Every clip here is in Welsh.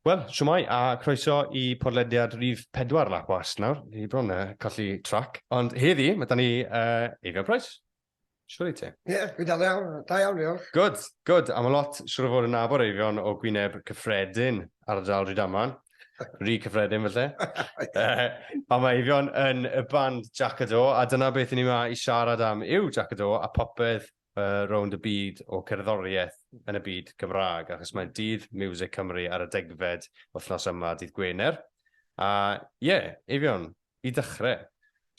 Wel, siwmai, a croeso i podlediad rhif 4 Lap Was nawr. Ni bron uh, colli trac. Ond heddi, mae da ni uh, Eifio Price. Siwr i ti? Ie, yeah, fi'n dal iawn, da iawn, diolch. Good, good. A mae lot siwr o fod yn nabod eifion o Gwyneb Cyffredin, ardal Rydaman. Rhi Cyffredin, felly. uh, a mae eifion yn y band Jack Do, a dyna beth i ni yma i siarad am yw Jack Do a popeth uh, rownd y byd o cerddoriaeth yn y byd Gymraeg, achos mae dydd Music Cymru ar y degfed wythnos yma, dydd Gwener. A ie, yeah, eifion, i ddechrau,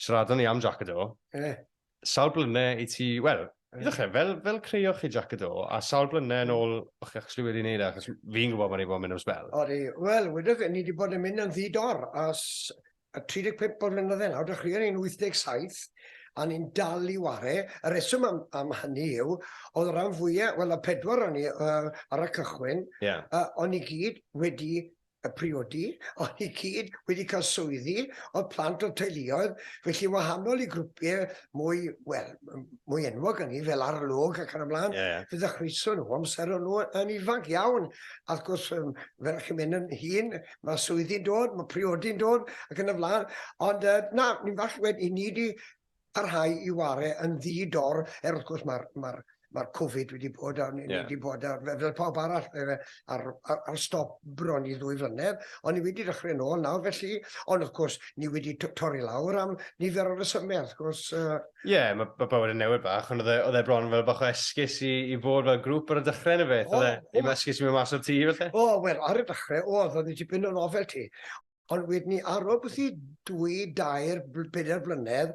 siaradwn ni am Jack Do. Yeah. Sawl blyne i ti, wel, i ddechrau, fel, fel creio chi Jack y Do, a sawl blyne yn ôl o'ch chi actually wedi wneud e, achos fi'n gwybod bod ni wedi bod yn mynd am sbel. Odi, wel, wedi fe, ni wedi bod yn mynd yn ddi-dor as 35 o flynydde nawr, dechreuon ni'n 87, a ni'n dal i ware. Y reswm am, am hynny yw, oedd rhan fwyaf, wel, y pedwar o'n ni uh, ar y cychwyn, yeah. uh, o'n ni gyd wedi a priodi, ond i gyd wedi cael swyddi, oedd plant o teuluoedd, felly wahanol i grwpiau mwy, wel, mwy enwog yn ni, fel arlwg ac yn ymlaen, yeah. fe ddechreuson nhw amser o'n nhw yn ifanc iawn, a wrth gwrs, um, fel chi'n mynd yn hun, mae swyddi'n dod, mae priodi'n dod, ac yn ymlaen, ond uh, na, ni'n falch wedi, ni wedi parhau i ware yn ddi-dor, er wrth gwrs mae'r ma ma Covid wedi bod, a ni yeah. wedi bod ar, fel pawb arall, ar, ar, ar stop bron i ddwy flynedd, ond ni wedi dechrau nôl nawr, felly, ond wrth gwrs, ni wedi torri lawr am nifer o resymau, wrth gwrs. Ie, uh... yeah, mae ma bywyd yn newid bach, ond e, oedd e bron fel bach o esgus i, i fod fel grŵp ar y dechrau yn y beth, oedd e, i esgus i mynd mas o'r tŷ, felly? O, wel, ar y dechrau, oedd, oedd e tipyn o nofel ti. ond wedyn ni ar ôl bwthi dwy, dair, pedair blynedd,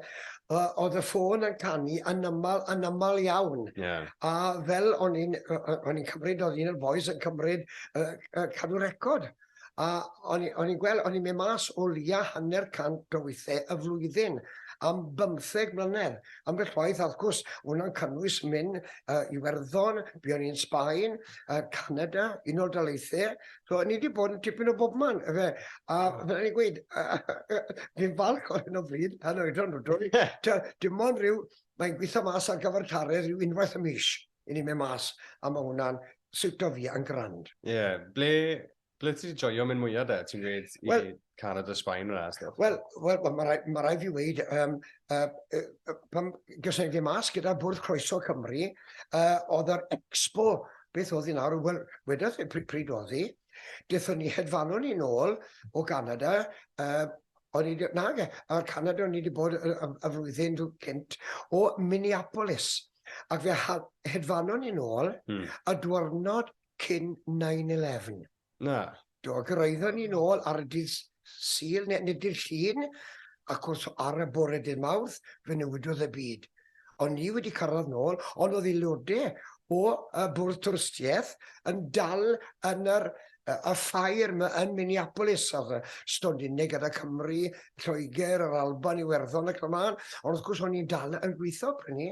oedd y ffôn yn canu yn aml, yn aml iawn. Yeah. A fel o'n i'n cymryd, oedd un o'r boys yn cymryd uh, uh, cadw record. A o'n i'n gweld, o'n i'n mynd mas o lia hanner cant o weithiau y flwyddyn am bymtheg mlynedd. Am beth waith, wrth gwrs, hwnna'n cynnwys mynd uh, i Werddon, buon ni'n Sbaen, uh, Canada, Unol Daleithiau, So, ni wedi bod yn tipyn o bob man, efe. A fel ni'n gweud, fi'n falch o hyn o bryd, pan oed o'n drwy. Dim ond rhyw, mae'n gweithio mas ar gyfer tare rhyw unwaith y mis i ni mynd mas, a mae hwnna'n siwto fi yn grand. Ie, yeah. ble, ble ti wedi joio mynd mwyaf de, ti'n gweud? Wel, Canada, Sbaen yna. Wel, wel, wel mae rhaid, ma rhaid fi wneud, um, uh, uh, pan gysylltu fi mas gyda Bwrdd Croeso Cymru, uh, oedd yr expo, beth oedd hi nawr, wel, wedodd e pryd oedd hi, dethon ni hedfanu ni'n ôl o Canada, uh, O'n i, nage, ar Canada o'n i wedi bod y, y, y flwyddyn cynt o Minneapolis. Ac fe hedfanon ni'n ôl hmm. y dwrnod cyn 9-11. Na. Do, gyraeddon ni nôl ar y dydd Sul, neu neu dydd Llun, ac wrth ar y bore dydd Mawrth, fe newidodd y byd. O'n ni wedi cyrraedd nôl, ond oedd aelodau o y Bwrdd Twristiaeth yn dal yn yr y ffair ma yn Minneapolis, a oedd stondin neu gyda Cymru, Lloegr, yr Alban, Iwerddon ac yn y mân, ond wrth gwrs o'n ni'n dal yn gweithio, prynu.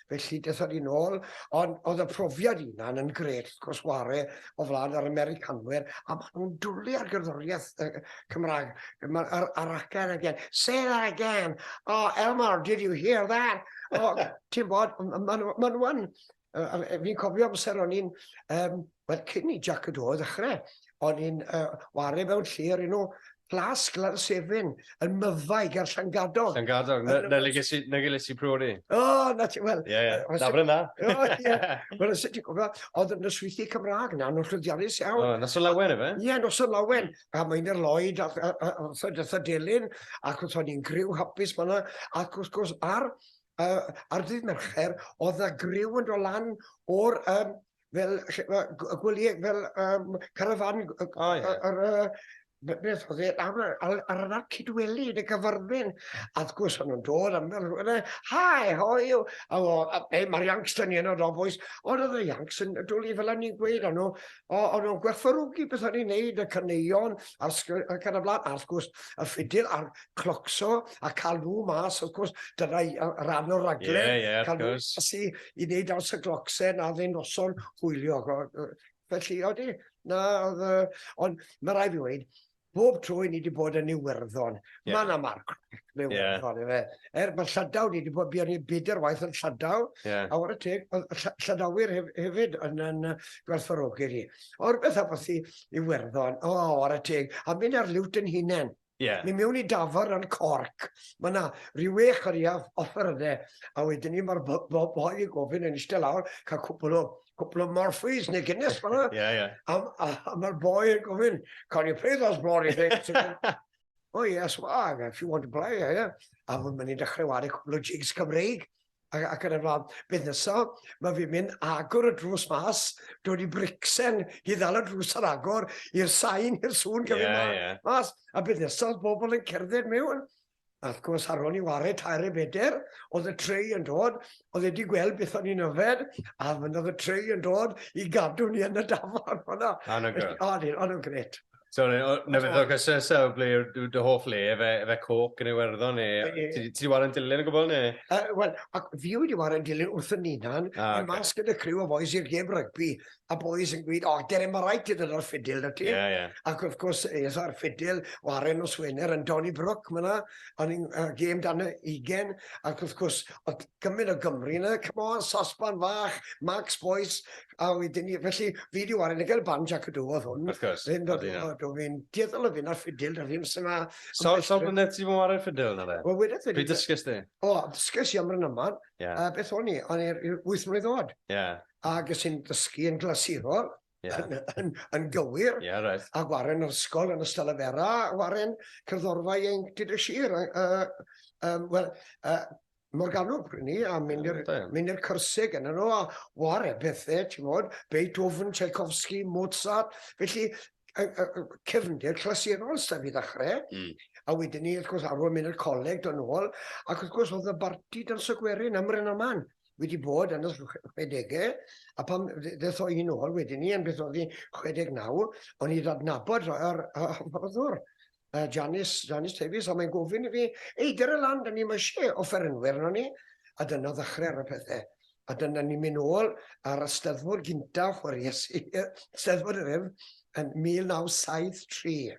felly dethon ni nôl, ond oedd y profiad hunan yn gret, wrth gwrs, ware o flaen yr Americanwyr, a maen nhw'n dwlu ar gerddoriaeth y Cymraeg, ar, ar again again, say that again, oh Elmar, did you hear that? Oh, ti'n bod, maen nhw, maen nhw yn, fi'n cofio amser o'n i'n um, Wel, cyn i Jac y Do ddechrau, o'n i'n ware mewn lle o'r enw Plas Glarsefyn, yn Myfaig ar Llangadog. Llangadog, na le ges i, na le ges i priodi. O, na ti, wel. Ie, ie, na fyrna. O, ie. Wel, os ydy gwybod, oedd yn yswythu Cymraeg na, nhw'n llwyddiannus iawn. O, nos o lawen efe? Ie, nos o lawen. A mae'n i'r Lloyd, a thydytha delyn, ac wrth o'n i'n griw hapus fanna, ac wrth gwrs, ar, ar ddydd Mercher, oedd na griw yn dod lan o'r, um, fel gwyliau, fel um, carafan, oh, yeah. ar, ar, beth oedd e, ar, ar, ar yna'r cydweli yn y gyfarfyn. A wrth gwrs, o'n nhw'n dod am fel rhywun, hi, how are you? A o, e, mae'r Yanks yn un o'r ofwys, ond oedd y Yanks yn dwlu fel o'n i'n gweud, o'n nhw, o'n nhw'n gwerthfarogi beth o'n i'n neud, y caneion, a'r sgwr, ac ar y blaen, a wrth gwrs, y ffidydd a'r clocso a cael nhw mas, of course, dyna rhan o'r raglen. Yeah, yeah, cael nhw mas i, i wneud aws y glocsen a ddyn noson hwylio. Felly, oeddi, na, ond mae rai fi wedi, bob tro i ni wedi bod yn Iwerddon, yeah. mae yna marc mewn yeah. Iwerddon, efe. Er mae Llydaw, ni wedi bod, buon ni bydr waith yn Llydaw, yeah. a o'r y teg, Llydawyr hef, hefyd yn, yn gwerthfawrogi ni. O'r beth a bod i Iwerddon, o, o'r y teg, a mynd ar liwt yn hunain. Yeah. Ni mewn i dafar yn corc. Mae yna rhyw wech ar iaf offer yna. A wedyn ni mae'r boi i gofyn yn eistedd lawr, cael cwpl o, cwpl o morphys neu gynnes fanna. Yeah, yeah. A, a, a mae'r boi yn gofyn, can you play those bloody things? oh yes, well, if you want to play, yeah, yeah. A mae'n mynd i dechrau wario cwpl o jigs Cymreig. ac yn y blaen. Beth nesa? Mae fi'n mynd agor y drws mas, dod i bricsen i ddal y drws ar agor i'r sain, i'r sŵn gyfyd yeah, yeah. mas. A beth nesa, oedd bobl yn cerdded mewn. A wrth gwrs, ar ôl i wario tair e beder, oedd y treu yn dod, oedd wedi gweld beth o'n i'n yfed, a fynd oedd y treu yn dod i gadw ni yn y dafod. Ond o'n gret. Sorry, nefyd ddod cysau sef ble yw'r dy hoff le, efe, efe coc yn Iwerddon neu... Ti wedi wario yn dilyn o gwbl neu? Uh, Wel, ac fi wedi wario yn dilyn wrth y ninan, ah, okay. mas gyda criw o boys i'r gêm rygbi, a boys yn gweud, o, oh, dere mae rhaid ti ddod o'r ffidil na ti. Yeah, yeah. Ac wrth gwrs, es o'r ffidil, waren o Swener yn Donny Brook, mae'na, o'n i'n uh, gêm dan y ugen, ac wrth gwrs, oedd Cymru o Gymru yna, come on, sosban fach, Max Boyce, a wedyn ni, felly fi di wario, ni gael barn Jack y Dw oedd hwn. Of course. Fi'n dod o dw, fi'n dieddol o fyn ar ffidil, da fi'n sy'n ma... So, so blynedd ti fod wario ffidil yna fe? Wel, wedyn fi... Pryd dysgys di? O, dysgys i am rhan yma, a beth o'n i, o'n i'r wyth mlynedd oed. Ie. A gys i'n dysgu yn glasurol, yn gywir, a gwaren yn yr ysgol, yn y Stylyfera, a gwaren cyrddorfa ieuenctid y sir. Wel, Morgannwg pryn ni, a mynd i'r yeah, mynd i'r cyrsiau gen nhw, a war e bethau, ti'n modd, Beethoven, Tchaikovsky, Mozart, felly y, y, y cefndir clasurol sef i ddechrau, mm. a wedyn ni, wrth gwrs, arwyd mynd i'r coleg dod nôl, ac wrth gwrs, oedd y barti dan sygwerin am rhan aman wedi bod yn y 60au, a pam ddeth o un ôl wedyn ni, yn beth oedd hi 69, o'n i ddadnabod yr hyfforddwr. uh, Janice, Janice Davies, a mae'n gofyn i fi, ei, dyr y lan, dyn ni'n eisiau offerynwyr yno ni, a dyna ddechrau ar y pethau. A dyna ni'n mynd ôl ar y steddfod gyntaf o'r Iesu, steddfod yr ef, yn 1973.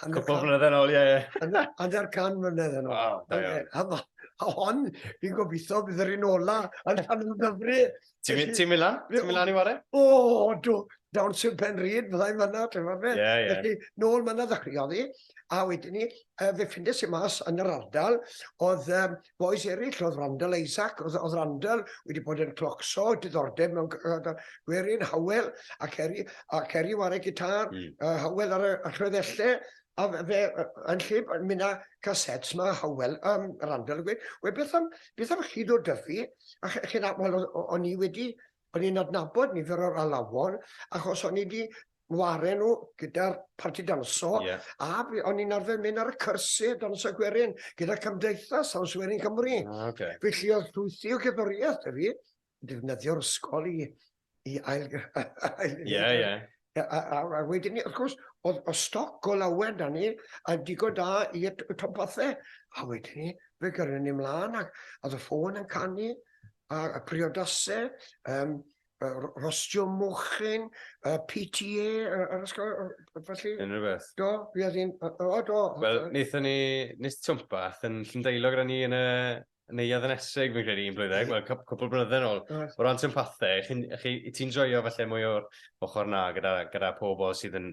Cwpl mlynedd yn ôl, ie, ie. Hanner can mlynedd yn ôl. Wow, da iawn. A hon, fi'n gobeithio, bydd yr un ola yn rhan o'n dyfru Ti'n mynd ti lan? Ti'n mynd lan i ware? O, do. Down sy'n pen rhyd, fyddai'n fanna, ti'n fawr beth. Yeah, yeah. Felly, nôl fanna ddechreuodd i. A wedyn ni, uh, fe ffindes i mas yn yr ardal, oedd um, boes eraill, oedd Randall Isaac, oedd, oedd Randall wedi bod yn clocso, diddordeb mewn gwerin, Howell, ac Eri, ac Eri war y gitar, mm. uh, Howell ar y, ar y A fe, yn lle, mi na casets ma, Howell, um, Randall, gweud, we beth am, beth am chi ddod dyfu, a chi'n aml, o'n i wedi, o'n i'n adnabod nifer o'r alawon, achos o'n i wedi ware nhw gyda'r parti danso, yeah. a o'n i'n arfer mynd ar y cyrsi danso gwerin gyda Cymdeithas Haws Werin Cymru. Ah, okay. Felly oedd llwythi o gyddoriaeth y fi, defnyddio'r ysgol i, i ail... Ie, ie. A, a, a, a wedyn ni, wrth gwrs, oedd o stoc o lawer da ni, a digon da i y topathau. A wedyn ni, fe gyrru ni mlaen, ac a oedd y ffôn yn canu, a, a priodasau, um, rostio mochyn, uh, PTA, yr ysgol, felly... Unrhyw beth. Do, fi oedd hi'n... O, do. Wel, wnaethon ni, nes twmpath yn Llyndeilog gyda ni yn y, Neuadd yn Esseg fi'n credu un blwyddeg, wel cwp- cwpl o blynydde nôl. Oes. O ran sympathe, chi'n chi ti'n joio falle mwy o'r ochr 'na gyda gyda pobl sydd yn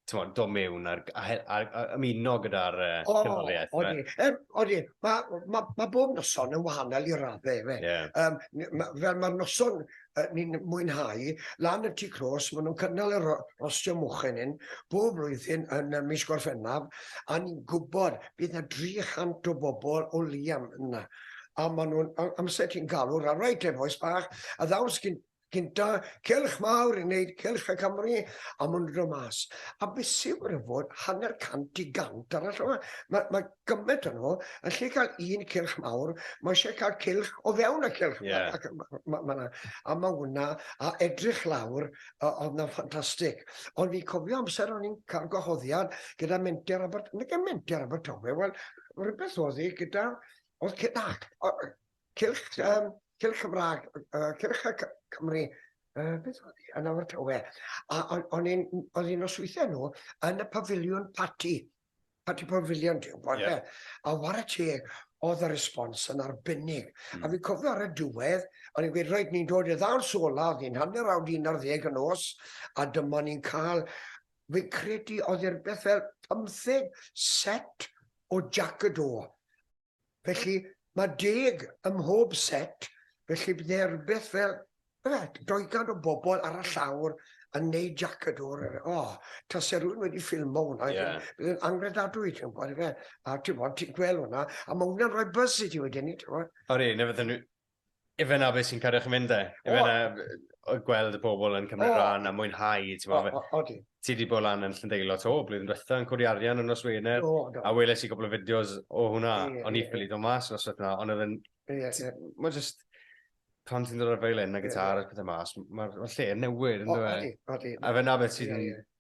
t'mod do' mewn a'r g- a he- a a ymuno gyda'r yy... O! ...cerddoriaeth yfe? Odi yy odi ma' ma' ma' bob noson yn wahanol i radde yfe? Ie. Yym n- ma' fel ma'r noson uh, ni'n mwynhau, lan y tu clos, maen nhw'n cynnal y rostio mochyn hyn bob blwyddyn yn y mis Gorffennaf, a ni'n gwybod bydd yna 300 o bobl o Liam yna. A maen nhw'n, amser ti'n galw, rhan rhaid te boes bach, a ddawns gyn, gynta, celch mawr i wneud celch y Cymru, a maen nhw'n dod mas. A beth sy'n gwrdd fod hanner cant i gant arall yma. Mae, mae gymaint o'n nhw, yn lle cael un cilch mawr, mae eisiau cael cilch o fewn y cilch. Yeah. Ac, ma, ma, ma, ma, a mae hwnna, a edrych lawr, oedd na ffantastig. Ond fi'n cofio amser o'n i'n cael gwahoddiad gyda menter Abert, nid yn menter Abertawe, wel, rhywbeth oedd hi gyda, oedd cynach, cilch, um, cilch Cymraeg, uh, cilch y Cymru, uh, beth oedd hi, yn Abertawe. A o'n i'n, oedd hi'n osweithio nhw yn y pafiliwn party Patti Pavilion, ti'n gwybod, yeah. a war y teg, oedd y respons yn arbennig. Mm. A hmm. fi'n cofio ar y diwedd, o'n i'n gweud, roed ni'n dod i ddaw'r sola, oedd hi'n hanner awd un ar ddeg yn os, a dyma ni'n cael, fi'n credu oedd i'r beth fel pymtheg set o Jack y Do. Felly, mae deg ym mhob set, felly bydd yna rhywbeth fel, efe, doegan o bobl ar y llawr yn neud Jac y Dwr. O, tase rhywun wedi ffilmo hwnna, Ie. bydd yn angredadwy, ti'n gwybod, efe. A ti'n gwybod, ti'n gweld hwnna, a mae hwnna'n rhoi buzz i ti wedyn, ti'n gwybod. Odi, neu fydden nhw, Ife na beth sy'n cadw chi'n mynd e? Ife na gweld y pobl yn cymryd oh. rhan a mwynhau, ti'n oh, oh, oh, ti wedi bod lan yn Llyndeilo to, blwyddyn diwetha yn codi arian yn nos Wener, oh, a weles i gwbl o fideos o hwnna, yeah, o'n i ffili dod mas yn ystod yna, ond oedd yn... Yeah, yeah. Mae just... Pan ti'n dod ar feilin a gitar yeah, yeah. a pethau mas, mae'r ma lle yn newid, yn dweud. Odi, odi. A fe na beth sy'n... Yeah, yeah.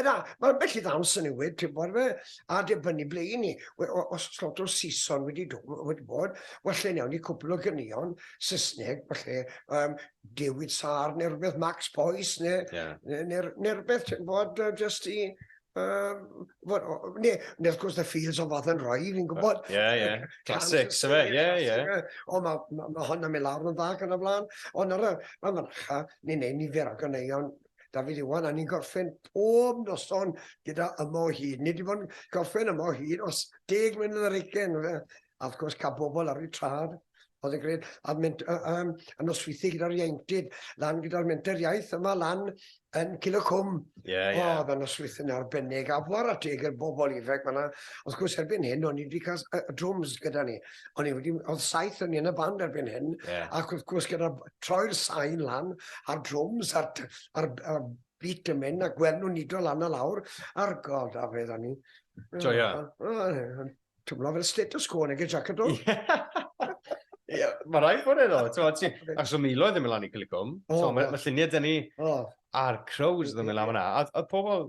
Yna, mae bell i ddawns yn newid, ti'n bod fe, a dibynnu ble i ni. Os slot o Saeson wedi, wedi bod, well lle newn ni cwpl o gynion Saesneg, falle um, Dewyd Sar neu rhywbeth, Max Boyce neu, yeah. neu, neu, neu rhywbeth, ti'n bod, uh, just i... Um, well, ne, ne, of course, the fields of Father Roy, fi'n gwybod. Ie, yeah, ie. Yeah. Classics, yfe, ie, ie. O, mae ma, ma hwn yn mynd lawr yn dda gan y flan. Ond ar y, mae marcha, ni'n neud nifer o ganeion Dafydd Iwan, a ni'n gorffen pob noson gyda yma o hyd. Nid i fod yn gorffen yma o hyd os deg mlynedd ar eigen, fe. A wrth gwrs, cael bobl ar ei trad, oedd yn gwneud, a mynd um, yn nosweithio gyda'r ieuenctid, lan gyda'r menter iaith yma, lan yn Cil y Cwm. Ie, yeah, ie. Yeah. O, oedd yn nosweithio'n arbennig, a fawr at deg i'r bobl ifanc fyna. Wrth gwrs, erbyn hyn, o'n i wedi cael uh, drums gyda ni. O'n i wedi, oedd saith o'n i yn y band erbyn hyn, yeah. ac wrth gwrs gyda troi'r sain lan, a'r drums, a'r, ar, ar beat yn mynd, a gweld nhw'n nido lan a lawr, a'r god a fedd o'n i. Joia. Twmlo fel status quo neu gyda jacket o. Yeah, mae rhaid bod edo. Ac so Milo ddim yn lan i Cilicwm. Oh, so, mae lluniau dyn ni a'r crows ddim yn lan yna. A pobl,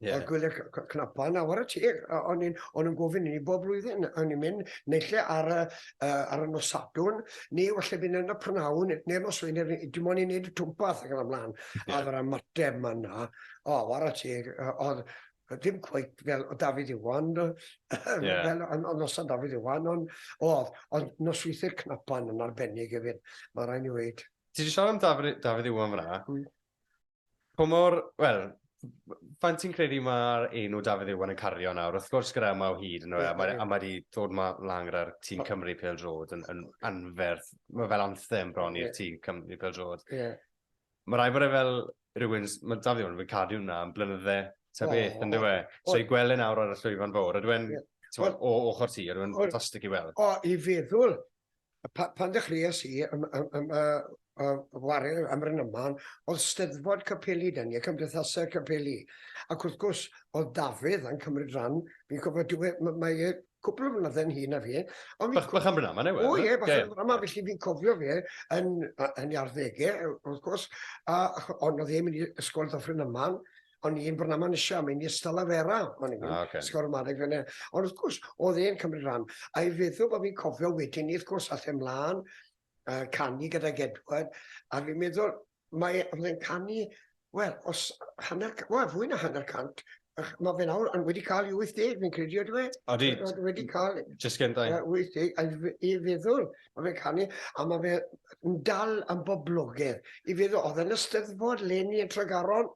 Yeah. A gwyliau cnapau yn awr y tir. O'n nhw'n gofyn i ni bob blwyddyn. O'n ni'n mynd neille ar, uh, ar y nos sadwn, neu falle fynd yn y prynawn, neu'r nos wein, dim ond i wneud y twmpath ac yn ymlaen. Yeah. A fy'r ymateb yma yna, o, awr y tir, oedd dim cweit fel o Dafydd Iwan, yeah. fel o nos o Dafydd Iwan, ond oedd, ond nos weithiau'r cnapau yn arbennig hefyd, mae rhaid i wneud. Ti wedi sôn am Dafydd Iwan fyna, hmm. Pa mor, wel, faint ti'n credu mae'r enw Dafydd Iwan yn cario nawr? Wrth gwrs gyda yma o hyd, no, yeah, a mae yeah. ma wedi dod ma lan gyda'r tîm Cymru Pel Drod yn, yn anferth. Mae fel anthem bron i'r yeah. tîm Cymru Pel Drod. Yeah. Mae rai bod e fel rhywun, mae Dafydd Iwan yn cadw hwnna yn blynydde ta oh, beth, yn dweud. E? So i gweld e nawr ar y llwyfan fawr, a dwi'n, yeah. o ochr ti, a dwi'n ffantastig i weld. O, i feddwl, A pa- pan ddechreuais i ym- ym- ym- yy yy ware am Brynaman, o'dd Steddfod Capeli 'da ni, y cymdeithase capeli, ac wrth gwrs o'dd Dafydd yn cymryd ran, fi'n cofio dyw e m- mae e cwpwl o flynydde'n hŷn na fi, ond fi'n... Bach bach am Brynaman yw e? O ie, bach am Brynaman, felly fi'n cofio fe yn yy yn ei arddege, wrth gwrs, a ch- ond o'dd e'n mynd i ysgol Ddyffryn Aman, o'n i'n Brynaman eisiau, am i'n ystod a fera, o'n i'n ah, okay. sgor ymadeg fyna. Ond wrth gwrs, oedd e'n cymryd rhan, a i feddwl bod fi'n cofio wedyn ni, wrth gwrs, all e mlaen, uh, canu gyda Gedward, a fi'n meddwl, mae e'n canu, wel, os hanner, wel, fwy na hanner cant, mae fe nawr yn wedi cael 80, fi'n credu, oedde fe? Odi. Wedi cael... Just gen da. 80, a i feddwl, Mae fe'n canu, a mae fe yn dal yn boblogedd. I fe ddo, oedd yn y steddfod leni yn Tregaron,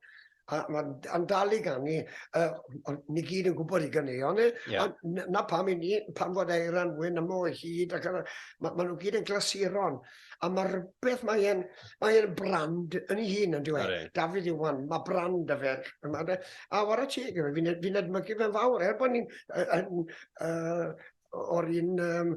a mae'n dal i ganu, uh, ni gyd yn gwybod i ganeuon e, yeah. a na pam i ni, pan fod Eiran wyn yma o hyd, ac yna, mae ma nhw gyd yn glasuron, a mae rhywbeth, mae'n mae e brand yn ei hun yn dweud, e? David Iwan, mae brand y fe, a war y teg, fi'n fi edmygu fe'n fawr, er bod ni'n uh, uh, o'r un um,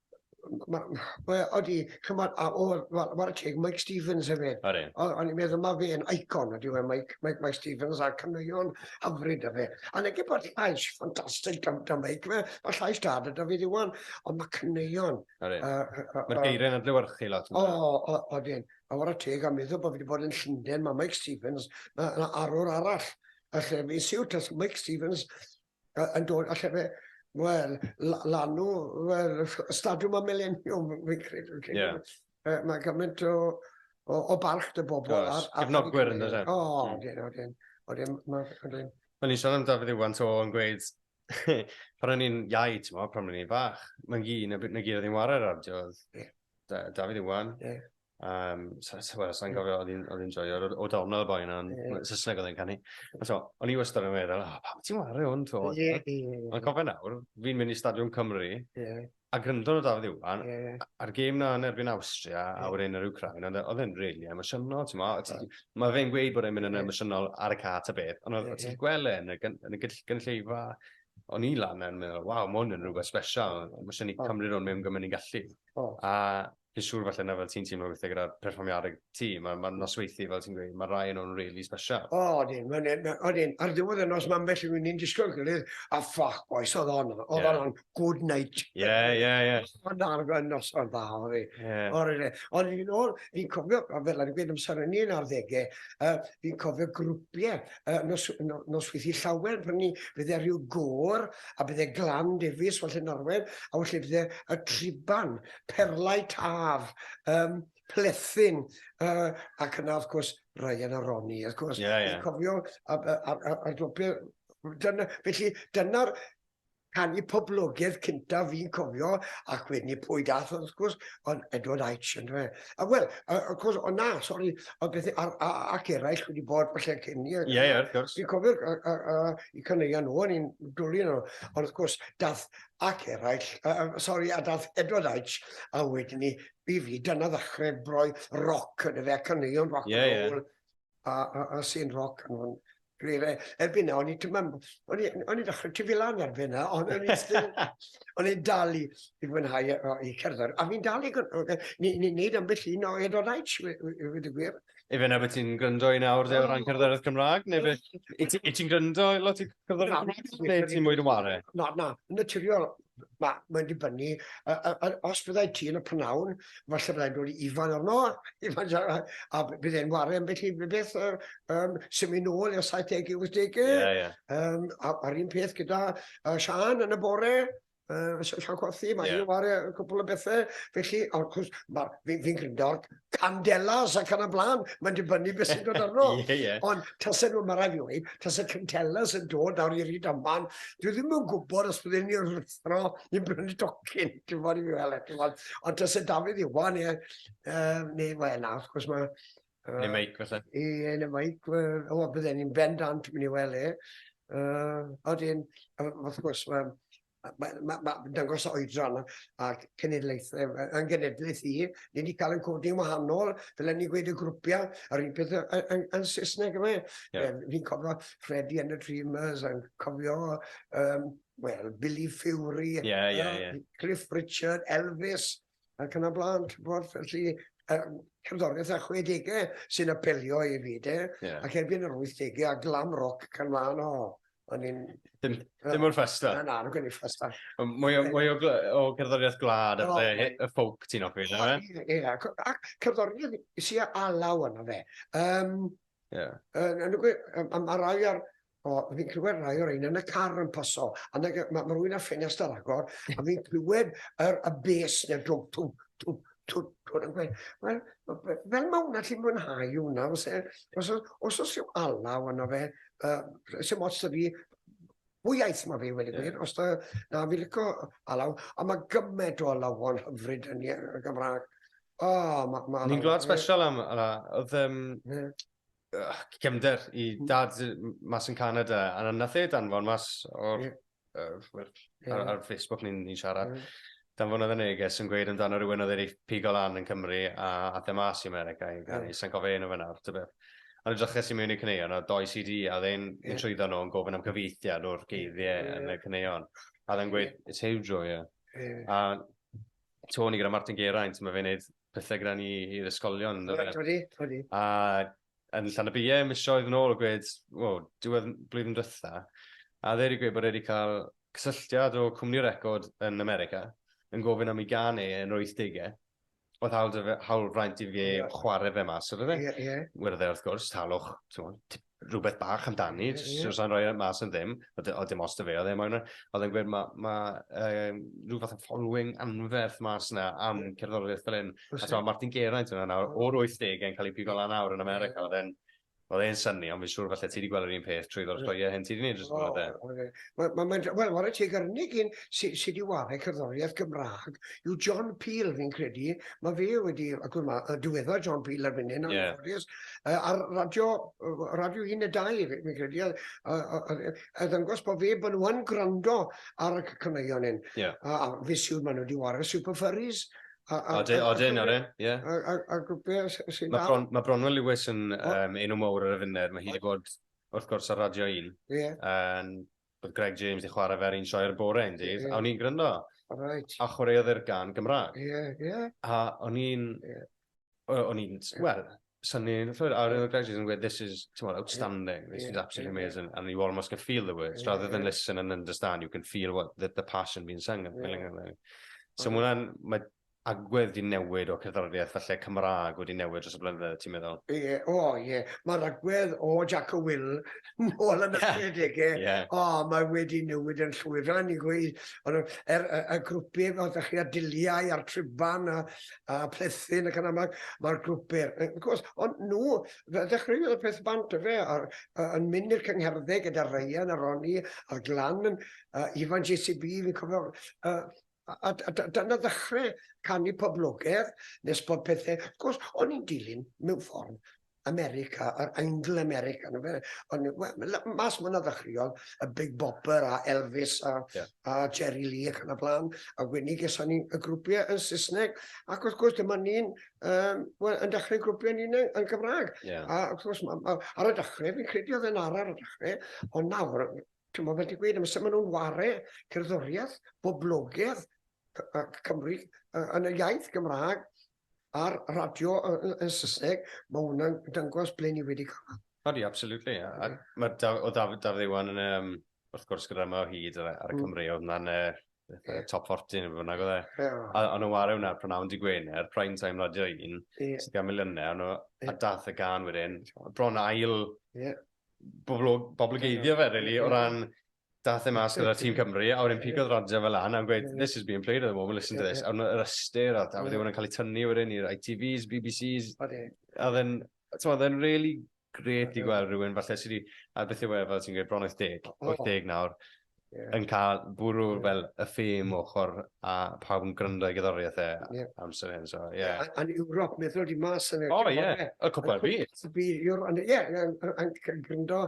Wel, oeddi, cymod, a o'r, wel, mae'r teg, Mike Stevens hefyd. Ori. O'n i'n meddwl mae fe'n icon, ydy we, Mike, Mike, Mike Stevens, a caneuon hyfryd y fe. A nege bod llais ffantastig da, da Mike, fe, mae llais da da da fi ddiwan, ond mae caneuon... Ori. Mae'r geiriau'n adlywyrchu lot. O, o, odyn. A o'r teg, a meddwl bod fi wedi bod yn Llundain, mae Mike Stevens, mae yna arwr arall, a lle fi'n siwt, as Mike Stevens, yn dod a llefe, wel, lanw, wel, stadiwm am mileniwm, fi'n credu. Yeah. Uh, mae gymaint o, o, o barch dy bobl. Oes, cefnogwyr yn ydyn. O, dyn, o, dyn. O, dyn, o, dyn. O'n i'n siarad am Dafydd Iwan to yn gweud, pan o'n i'n iau, ti'n mo, pan o'n i'n fach, mae'n gi, na, na gi oedd i'n wario radio, oedd yeah. Dafydd Iwan, yeah. Um, so, so, well, sa'n gofio, oedd hi'n joio, o dawn o'r boi yna, yn Saesneg oedd e'n canu. So, o'n i wastad yn meddwl, oh, pam ti'n wario hwn, to? Yeah, yeah, yeah. Ond cofio nawr, fi'n mynd i Stadiwm Cymru, yeah. a gryndo o Dafydd Iwan, yeah, yeah. a'r gêm na yn erbyn Austria, yeah. a wedyn yr Ukraine, e, oedd e'n really emosiynol, ti'n meddwl? Yeah. Mae fe'n gweud bod e'n mynd yn emosiynol ar y cat a beth, ond oedd yeah, ti'n gweld e yn y, yn y gynulleidfa, o'n i lan yn meddwl, waw, mae hwn yn rhywbeth special, mae eisiau ni cymryd hwn mewn gymryd ni'n gallu. Oh. A fi'n siŵr falle na fel ti'n teimlo weithiau gyda perfformiadau ti, mae'r ma nosweithi fel ti'n gweud, mae rai yn nhw'n really special. O, odyn, odyn, ar ddiwedd y nos mae ambell rwy'n ni'n disgwyl gilydd, a ffoc boys, oedd hon, oedd yeah. hon, good night. Ie, yeah, ie, yeah, ie. Yeah. Ond ar y nos o'n dda, oedd e. Yeah. Ond fi'n ôl, fi'n cofio, fel ar y gwyd amser yn un ar ddegau, uh, fi'n cofio grwpiau uh, nos, no, nosweithi llawer, pan ni bydde rhyw gôr, a bydde glan defus, falle Norwen, a felly bydde y triban, perlau taf, um, plethin, uh, ac yna, wrth gwrs, Ryan a Ronnie, wrth gwrs. Yeah, yeah. Cofio, a'r glwbiau, dyna, felly, dyna'r canu poblogaidd cynta fi'n cofio, ac wedyn i pwy dath, wrth gwrs, ond Edward Aitch, yn dweud. A wel, wrth gwrs, o na, sori, ond beth, ac eraill wedi bod falle cyn ni. Ie, ie, wrth gwrs. Fi'n cofio, i caneuon nhw, o'n i'n dwlu nhw, ond wrth gwrs, dath ac eraill, uh, sori, a dath Edward Aitch, a wedyn ni, i fi, dyna ddechrau broi roc yn y fe, caneuon roc yeah, and roll, yeah. a, a, a sy'n roc yn hwn. Gwneud erbyn na, o'n i tymam, o'n i ddechrau ti filan erbyn na, ond o'n i still, o'n i'n dal i, i fwynhau i cerdded. A fi'n dal i, ni'n neud ambell un o Edward Aitch, i wedi gwir. Ife na beth ti'n gryndo i nawr de o ran cerddoriaeth Cymraeg, neu beth? I ti- i ti'n gryndo i lot i cerddoriaeth Cymraeg, neu ti'n mwy dy ware? Na, na, yn naturiol, ma- mae'n dibynnu, yy yy yy os byddai ti yn y p'nawn, falle byddai'n dod i Ifan arno, Ifan Jaffa, a b- bydd e'n ware ambell i b- beth yy yym symud nôl i'r saithdege, wythdege. Ie, ie. Yym a- a'r un peth gyda yy Siân yn y bore, Uh, Sian Cothi, mae yeah. ar y cwpl o bethau. Felly, wrth gwrs, fi'n fi gryndor candelas ac yn y blaen, mae'n dibynnu beth sy'n dod arno. yeah, yeah. Ond tasau nhw, mae rai fi wedi, tasau candelas yn dod ar i'r ryd aman, dwi ddim yn gwybod os byddwn ni'n rwythro i'n brynu docyn, dwi'n fawr i fi fel eto. Ond tasau Dafydd Iwan, ie, um, neu, wel, na, wrth gwrs, mae Uh, yn y meic, felly. I, yn y meic, o, bydden ni'n bendant mynd i weld e. Uh, Oedyn, wrth gwrs, mae ma, ma, ma dangos oedran a cenedlaethau yn genedlaeth i. Ni wedi cael yn codi yn wahanol, fel ni gweud y grwpiau, a'r un peth yn, yn Saesneg yma. Yeah. Fi'n cofio Freddie and the Dreamers, yn cofio um, well, Billy Fury, yeah, yeah, yeah. Cliff Richard, Elvis, ac yn y blaen, ti'n gwybod, felly, um, cerddoriaeth a 60au sy'n apelio i fi, de, yeah. ac erbyn yr 80au a glam rock can fan o, o'n i'n... Dim, dim o'r ffesta? Na, na, nhw'n gwneud ffesta. Mwy o, mwy o, o cerddoriaeth glad a oh, y ffowc ti'n offi, na fe? Ie, ac cerddoriaeth sy'n alaw yna fe. Um, Ie. Yn yn y gwe- yy ma' ma' rai ar o fi'n clywed rai o reina yn y car yn paso a nag yy ma' ma' rywun â ffenest ar agor a fi'n clywed yr y bês ne'r dwmp twmp twmp twmp twmp yn gweud wel ma' fe- fel ma' wnna ti'n mwynhau hwnna fyse os o- os o's ryw alaw arno fe yy sim ots 'da fi Mwy iaith mae fi wedi gwneud, yeah. os da, na fi licio alaw, a mae gymaint o alawon hyfryd yn y Gymraeg. O, oh, mae... Ma Ni'n gwlad special am ala, oedd um, yeah. uh, cymder i hmm. dad mas yn Canada, a nath e danfon mas o'r, yeah. uh, ar, ar Facebook ni'n ni siarad. Yeah. Dau flynedd yn neges yn gweud amdano rywun oedd wedi pigo lan yn Cymru a ath e mas i America i ganu, sai'n cofio ei enw fe nawr, tybeth. Ond edryches i mewn i'r caneuon a oedd dou CD a oedd e'n yeah. un trwyddo nhw yn gofyn am cyfieithiad o'r geiriau yeah. yn y caneuon. A oedd e'n gweud, yeah. it's huge o, yeah. yeah. A Tony gyda Martin Geraint, mae fe'n neud pethau gyda ni i'r ysgolion. Right, wedi, wedi. A yn Llanybie misoedd yn ôl a gwed, o, diwedd blwyddyn dwytha, a dde wedi gwed bod wedi cael cysylltiad o cwmni record yn America yn gofyn am ei gan e yn yr 80au. Oedd hawl, fe, hawl fraint i fe yeah. chwarae fe mas o'r fe. Yeah, yeah. Wedodd e wrth gwrs, talwch, rhywbeth bach amdani, yeah, yeah. sa'n rhoi mas yn ddim, oedd e, dim os da fe, oedd e moyn, oedd e'n gwed mae ma, um, rhywbeth yn following anferth mas yna am yeah. cerddoriaeth fel hyn. A t'mo' Martin Geraint yw wnna nawr, o'r wythdege yn ca'l 'i pigo lan nawr yn America. Ie. O'dd e'n o'dd e'n synnu ond fi'n siŵr falle ti 'di gweld yr un peth trwyddo'r sioeau hyn ti 'di neud dros y blynydde. O, odi. Wel ma' mae'n wel ware teg yr unig un sy sy 'di ware cerddoriaeth Gymra'g yw John Peel fi'n credu, ma' fe wedi agor ma- yy diweddar John Peel ar fine nawr... Ie. ...yn ffodus yy ar radio yy radio un ne' dau fi fi'n credu a a a a yy a ddangos bo' fe bo' nw yn gwrando ar y c- caneuon 'yn. Ie. A a fi'n siŵr ma' nw 'di ware Super Furries Odyn, odyn, odyn, ie. A grwpiau sy'n dal... Mae ma Bronwyn Lewis yn um, enw mawr ar y funud. Mae hi wedi bod, wrth gwrs, ar Radio 1. Ie. Yeah. Oedd Greg James wedi chwarae fe'r un sioe ar y bore un dydd, yeah. a o'n i'n gryndo. Right. A chwaraeodd e'r gan Gymraeg. Ie, yeah, ie. Yeah. A o'n i'n... Yeah. O'n i'n... Wel, Sa'n ni'n llwyr, a rydyn graduates yn gweud, this is, ti'n meddwl, outstanding, this is absolutely amazing, and you almost can feel the words, rather than listen and understand, you can feel what the, the passion being sung. Yeah. So mae hwnna'n, mae agwedd wedi newid o cerddoriaeth falle Cymraeg wedi newid dros y blynyddoedd, ti'n meddwl? Ie, yeah, o oh, ie. Yeah. Mae'r agwedd o Jack o Will môl yn ychydig e. Yeah. O, oh, mae wedi newid yn llwyr. Fel ni'n gweud, er, y, y grwpiau fel ydych chi a diliau a'r triban a, a plethin ac yn amlwg mae'r grwp byr. Wrth gwrs, ond nhw, fe ddechreuodd y peth bant y fe, ar, uh, yn mynd i'r cyngherddau gyda Ryan a Ronnie a Glan, uh, Ifan JCB, fi'n cofio, uh, a, a, a, a dyna ddechrau canu poblogaidd nes bod pethau, wrth gwrs, o'n i'n dilyn mewn ffordd America, yr Angl America, yn fe, ond mas mwyn ddechreuodd y Big Bopper a Elvis a, yeah. a Jerry Lee ac yn y blaen, a wedyn geson ni y grwpiau yn Saesneg, ac wrth gwrs dyma ni'n um, well, yn dechrau grwpiau ni'n yn Gymraeg. Yeah. A wrth gwrs, ma, ma, ar y dechrau, fi'n credu oedd e'n ar ar y dechrau, ond nawr, ti'n meddwl beth i gweud, amser maen nhw'n ware cerddoriaeth, boblogedd Cymru yn y iaith Gymraeg, ar radio yn Saesneg, mae hwnna'n dangos ble ni wedi cyrraedd. Odi, absolutely. A mae o Dafydd Iwan yn, um, wrth gwrs, gyda yma o hyd ar, y mm. Cymru, oedd na'n yeah. top 40 neu fynnag oedd e. Yeah. A o'n nhw'n wario hwnna pronawn di Gwener, prime time radio un, yeah. sydd gan miliynau, o'n nhw, yeah. a dath y gan wedyn, bron ail yeah. bobl, bobl geiddio fe, really, yeah. o ran Daeth e mas gyda tîm Cymru, a wedyn pigodd radio fe lan, a yn gweud, this is being played at the moment, listen to this. A wedyn yr ystyr, a wedyn hwnna'n cael ei tynnu wedyn i'r ITVs, BBCs. Odi. A then, ti'n oedd e'n really great i gweld rhywun falle sydd wedi, a beth yw e, fel ti'n gweud, bron 80, 80 nawr, yn cael bwrw fel y ffêm ochr a pawb yn gryndo i gyddoriaeth e yeah. amser hyn. So, yeah. Yn Ewrop, meddwl di mas yn y... O, ie, y cwpl byd. Y byd, ie, yn gryndo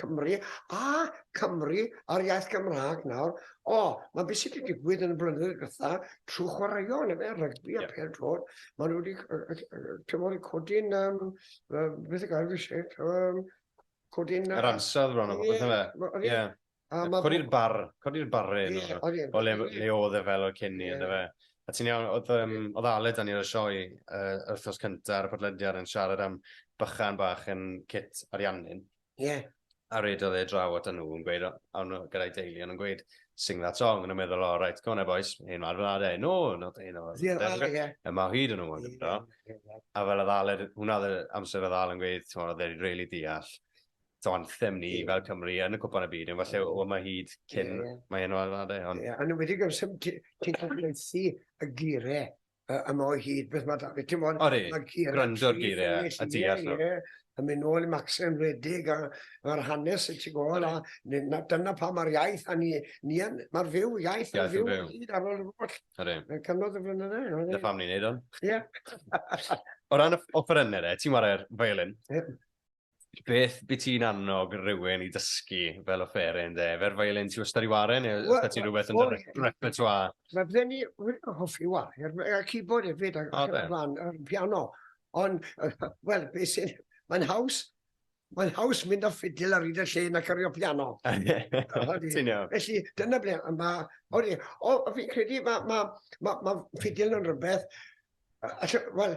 Cymru a Cymru a'r iaith Gymraeg nawr. O, mae beth sydd wedi digwydd yn y blynyddoedd gytha trwy chwaraeon, yn efe, rygbi a yeah. pêl drod. Mae nhw wedi, tymor i codi'n, um, beth y gael fi eisiau, um, codi'n... Yr ansawdd bron o beth efe. Ie. Codi'r bar, codi'r barre o le, le oedd e fel o'r cyn ni, efe. A ti'n iawn, oedd, um, oedd Aled dan i'r sioe uh, wrthos cyntaf ar y podlediad yn siarad am bychan bach yn cit ariannu'n. Ie. A redodd e draw at nhw yn gweud, o'n nhw gyda'i deulu, o'n nhw'n gweud, sing that song, o'n nhw'n meddwl, o, oh, right, go on there boys, un o'r flad e, no, not un o'r flad e, y mae hyd yn nhw yn gyda. A fel oedd Aled, hwnna oedd amser oedd Aled yn gweud, ti'n oedd e'n really deall, to anthem ni fel Cymru yn y cwpan y byd, yn falle o mae hyd cyn, mae un o'r flad e. Ond... Yeah, a nhw wedi gwrs, ti'n cael gweithio y gyrau uh, am o hyd beth mae David, ti'n bod? Ori, gwrando'r geiriau a deall nhw. Ie, a mynd nôl i Maxen Redig a mae'r hanes y ti gol a dyna pa mae'r iaith a ni, ni yn, mae'r fyw, iaith yn fyw yn hyd ar ôl yr holl. Ori. Yn cyfnod y flynyddoedd. Dyna pam ni'n neud o'n. Ie. o ran y offerynnau, ti'n wario'r violin? Ie. Beth by ti'n annog rhywun i dysgu fel o fferin de? Fer violin ti wastad i waren neu well, ydych ti'n rhywbeth yn dy repertoire? Mae fydden ni hoffi wario, a keyboard hefyd, a oh, plan, a piano. Ond, wel, beth sy'n... Mae'n haws, mae'n haws mynd â ffidil ar hyd y lle na cario piano. Ti'n iawn. Felly, dyna ble mae... Oeddi, o, fi'n credu mae ma, ma, ma ffidil yn rhywbeth... Wel,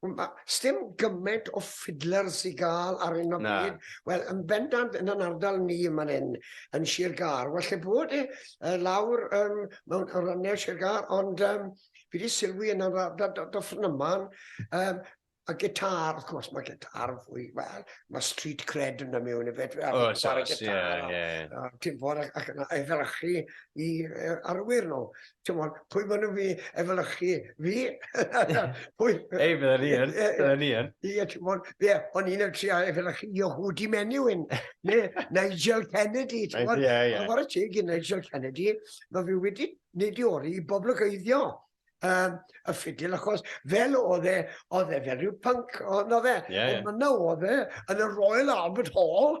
Mae, sdim gymaint o fiddlers i gael ar hyn o bryd. Wel, yn bendant yn yn ardal ni man hyn, yn Sir Gâr. Wel, lle bod e, uh, lawr um, mewn rannau Sir Gâr, ond um, fi wedi sylwi yn yr ardal do, do ffrnyman, um, a gitar, wrth gwrs, mae gitar fwy, wel, mae street cred yn ymwneud efo fe. O, so, ie, ie. Ti'n fawr ac yn efelychu i arwyr nhw. ti'n mwyn, pwy maen nhw fi efelychu fi? pwy? Ei, bydden ni yn, bydden ni yn. Ie, ti'n mwyn, ie, o'n i'n efelychu a efelychu Yehudi Menuhin, neu Nigel Kennedy, ti'n mwyn. Ie, ie. Chwarae teg i Nigel Kennedy, mae fi wedi nid i ori i boblogeiddio um, y ffidil, achos fel oedd e, oedd e fel rhyw punk, oedd e. Yeah, yeah. Ond yna oedd e, yn y Royal Albert Hall,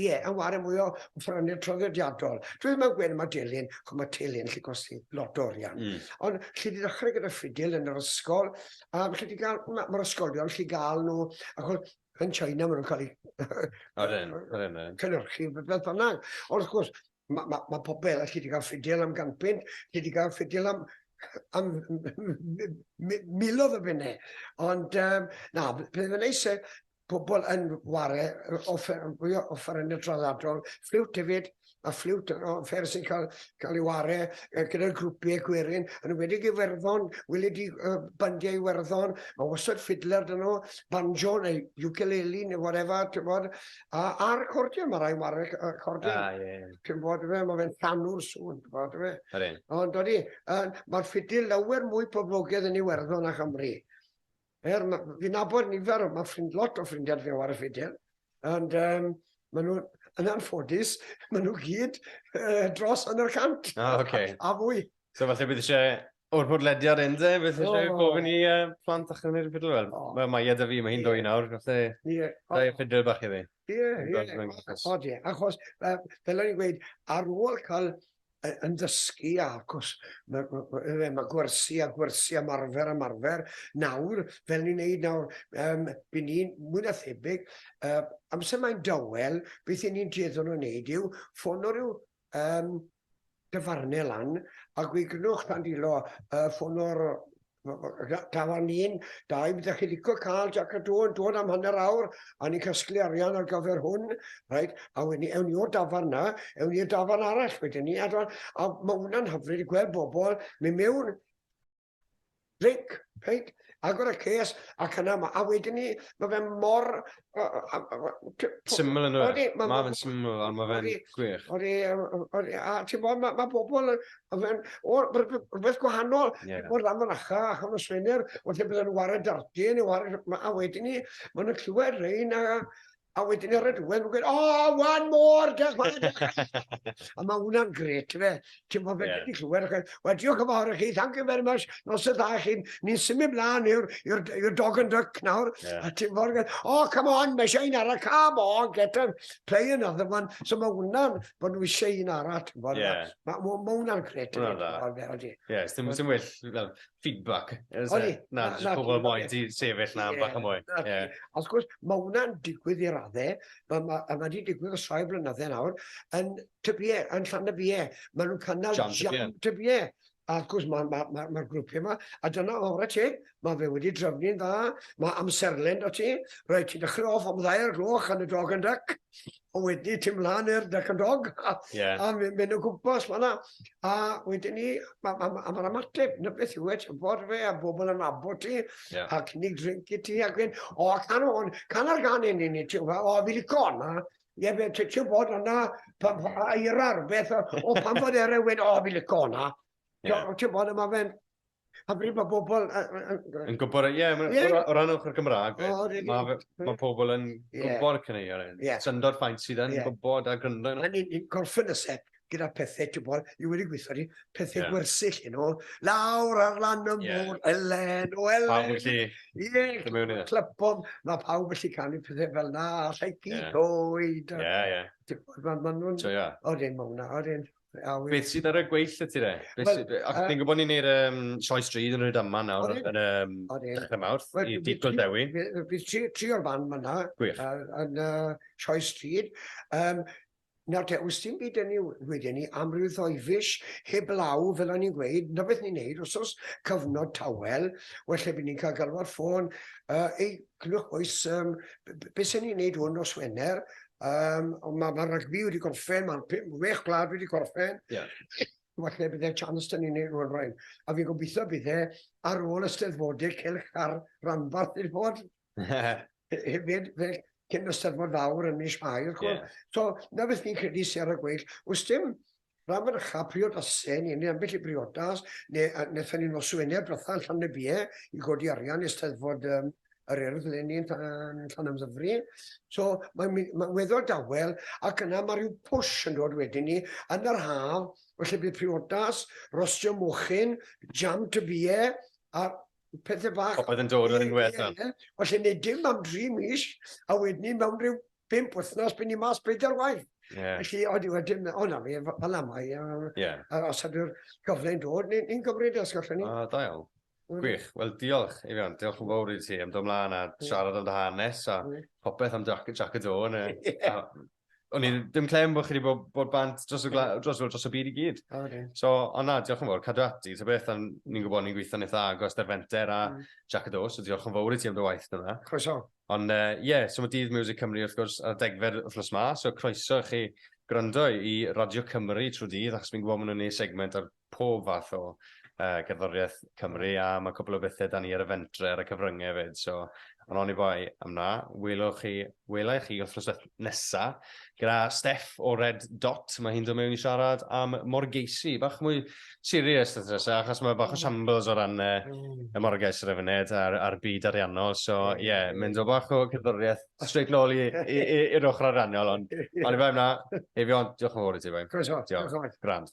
Ie, a ware mwy o ffrangeg traddodiadol. Dwi ddim yn gweud am y delyn, chos mae telyn lle costi lot o orian. Mm. Ond lle di ddechrau gyda ffidil yn yr ysgol, a lle di gael, mae'r ma ysgolion lle gael nhw, achos yn China maen nhw'n cael eu cynhyrchu, beth bynnag. Ond wrth gwrs, Mae ma, ma pobl sydd wedi cael ffidil am gampyn, sydd wedi cael ffidil am, am milodd o fynnau. Ond um, na, bydd yn eisiau pobl yn ware, offer, fwy o offer yn y draddadol, ffliwt hefyd, a ffliwt o offer sy'n cael, cael ei ware gyda'r grwpiau gwerin, yn wedi gyferddon, wylio di uh, bandiau Iwerddon, mae wastad ffidler dyn nhw, banjo neu ukulele neu whatever, ti'n bod, A, a'r cordion, mae rai warweg y cordion. Ah, ie. Yeah. Ti'n bod fe, mae fe'n llanw'r sŵn, ti'n bod fe. Yr un. Ond dodi, uh, mae'r ffidil lawer mwy poblogaidd yn Iwerddon a Chymru. Er, fi'n abod nifer, mae ffrind lot o ffrindiau fi ar y ffidil. Ond um, maen nhw'n, yn anffodus, maen nhw gyd uh, dros yn yr cant. Oh, okay. a, a fwy. So falle bydd eisiau O'r podlediad hyn de, beth ydych chi'n gofyn i plant a chymryd y ffidl? Wel, mae Maia da fi, mae hi'n dwy nawr, felly da i ffidl bach i fi. Ie, ie, achos fel o'n i'n gweud, ar ôl cael yn dysgu, achos mae gwersi a gwersi a marfer a marfer, nawr, fel ni'n neud nawr, byd ni'n mwy na thebyg, amser mae'n dawel, beth ni'n dueddol o wneud yw ffono rhyw Yym, dyfarne lan, a gwygnwch tan dilo y ffonwr Tafarn un, da i mi ddech chi licio cael Jac a Dŵ yn dod am hanner awr a ni'n casglu arian ar gyfer hwn, rhaid, a wedyn ni, ewn ni o'r dafarn na, ewn ni i'r dafarn arall wedyn ni, a, a mae hwnna'n hyfryd i gweld bobl mynd mewn Dic, reit? Agor y case, ac yna, ma, a wedyn ni, mae fe mor... Syml yn dweud. Mae ma fe'n syml, ond mae fe'n gwych. Odi, odi, a ti'n bod, mae ma pobl yn... O, rhywbeth gwahanol, yeah. o'r lam yn acha, ac o'n swener, wrth i bydden nhw'n wario dardi, neu wario... A wedyn ni, maen nhw'n clywed rhain, a... A wedyn ar y diwedd, mae'n gweud, oh, one more, diolch man, diolch. a mae hwnna'n gret, fe. Ti'n bod fe wedi clywed, ac wel, diolch yn fawr i chi, thank you very much, nos y dda chi, ni'n symud mlaen i'r dog and duck nawr, a ti'n bod, oh, come on, mae eisiau un arall, come on, get him, play another one. So mae hwnna'n bod nhw eisiau un arall, ti'n bod, mae hwnna'n gret. Hwnna'n dda. Ie, sy'n well, feedback. O'n i. Na, jyst pobl yn moyn ti sefyll na bach yn mwy. Os gwrs, mae hwnna'n digwydd i raddau, mae ma, ma wedi digwydd o soi flynyddau nawr, yn tybiau, yn llan y biau. Mae nhw'n cynnal jam tybiau. A wrth gwrs, mae'r ma, ma, ma grwpiau yma, a dyna o'r ti, mae fe wedi drefnu'n dda, mae amserlen o ti, rhaid ti ddechrau off am ddair gloch yn y dog yn dyc, a wedi ti mlaen i'r Duck and Dog, a, yeah. a mynd o gwmpas fanna. A wedyn ni, a mae'r ymateb, na beth yw e, ti'n bod fe, a bobl yn abo ti, yeah. a cynnig drink i ti, ac wedyn, o, can o'n, can ar gan un i ni, ti'n gwybod, o, fi lico hwnna, Ie, fe, ti'n bod yna, pan fo eira'r beth, o, pan fod eira'r wedi, o, fi lico hwnna. Ti'n bod yma fe'n, hyfryd mae bobl... Yn gwybod, ie, o ran ochr Gymraeg, mae pobl yn gwybod y cyneuon hyn. Syndod ffaint sydd yn gwybod a gryndo. Mae ni'n gorffen y set gyda pethau, ti'n bod, i wedi gweithio ni, pethau gwersyll yn ôl, lawr ar lan y môr, Elen, o Elen. Pawb felly, ie, mewn iddo. Clypom, mae pawb felly canu pethau fel na, llai gyd oed. Ie, ie. Ti'n bod, mae nhw'n... So, ie. Oedden, mae hwnna, oedden. Awi. Beth sydd ar y gweill y ti re? Beth well, sydd... Ac uh, ni'n gwybod ni'n neud um, sioes dryd yn rhyd yma nawr yn um, dechrau mawrth well, i digol dewi. Fi tri, tri o'r fan fyna yn uh, sioes dryd. Um, Nawr te, os ti'n byd ni wedyn ni amryw o'i fis heb law, fel o'n i'n gweud, na beth ni'n neud, os oes cyfnod tawel, well lle bydd ni'n cael galw'r ffôn, uh, ei Clywch oes, um, beth sy'n ni'n neud hwn nos Wener, um, ond mae ma rygbi wedi gorffen, mae'n pum, wech gwlad wedi gorffen. Yeah. Falle bydde chance dyn ni'n neud hwn rhain. A fi'n gobeithio bydde ar ôl ysteddfodau celch ar ranbarth i'r bod. Hefyd, fel cyn ysteddfod fawr yn mis Mai, wrth gwrs. Yeah. So, na beth fi'n credu sy'n ar y gweill. Os dim Rhan fanycha priodasen ni, neu ambell i briodas, neu a wnaethon ni nos Wener diwetha yn Llanybie i godi arian i Steddfod um, yr Urdd le ni'n Llanymddyfri. So mae'n ma, ma weddol dawel ac yna mae rhyw push yn dod wedyn ni yn yr haf, felly bydd priodas, rostio mochyn, jam tybie a pethau bach. Oedd yn dod yn gwella. Felly nid dim am dri mis a wedyn ni mewn rhyw pimp wythnos, byn ni mas bedair waith. Yeah. Felly, oeddi wedyn, o na fi, fel am ai, a, yeah. a os ydw'r gyfle'n dod, ni'n ni gymryd e, os gallwn ni. Ah, da iawn. Gwych. Wel, diolch, Eifion. Diolch yn fawr i ti am dod mlaen a siarad am dy hanes a popeth am Jack, Jack y Do. O'n i'n dim clem bod chi wedi bod, bod bant dros y, dros, dros y byd i gyd. Oh, okay. So, ond na, diolch yn fawr, cadw ati. Ta beth, ni'n gwybod ni'n gweithio'n eitha agos ar fenter a mm. Jack y Do, so diolch yn fawr i ti am dy waith yna. Croeso. Ond yy ie, so ma' Dydd Miwsig Cymru wrth gwrs ar y degfed wythnos 'ma, so croeso i chi gwrando i Radio Cymru trw dydd achos fi'n gwbo ma' nw'n neu' segment ar pob fath o yy gerddorieth Cymru a ma' cwpwl o bethe 'da ni ar y fentre ar y cyfrynge 'fyd so on' oni bai am 'na, welwch chi, wela i chi wthnos nesa gyda Steff o Red Dot, mae hi'n dod mewn i siarad am morgeisi, bach mwy serious dda nesa, achos mae bach o shambles o ran uh, y morgeis ar y funud a'r, ar byd ariannol, so ie, yeah, mynd o bach o cerddoriaeth straight nôl i'r ochr ariannol, ond ond i fe yna, Eifion, diolch yn fawr i ti, Eifion. Croeso, diolch yn fawr. Grand.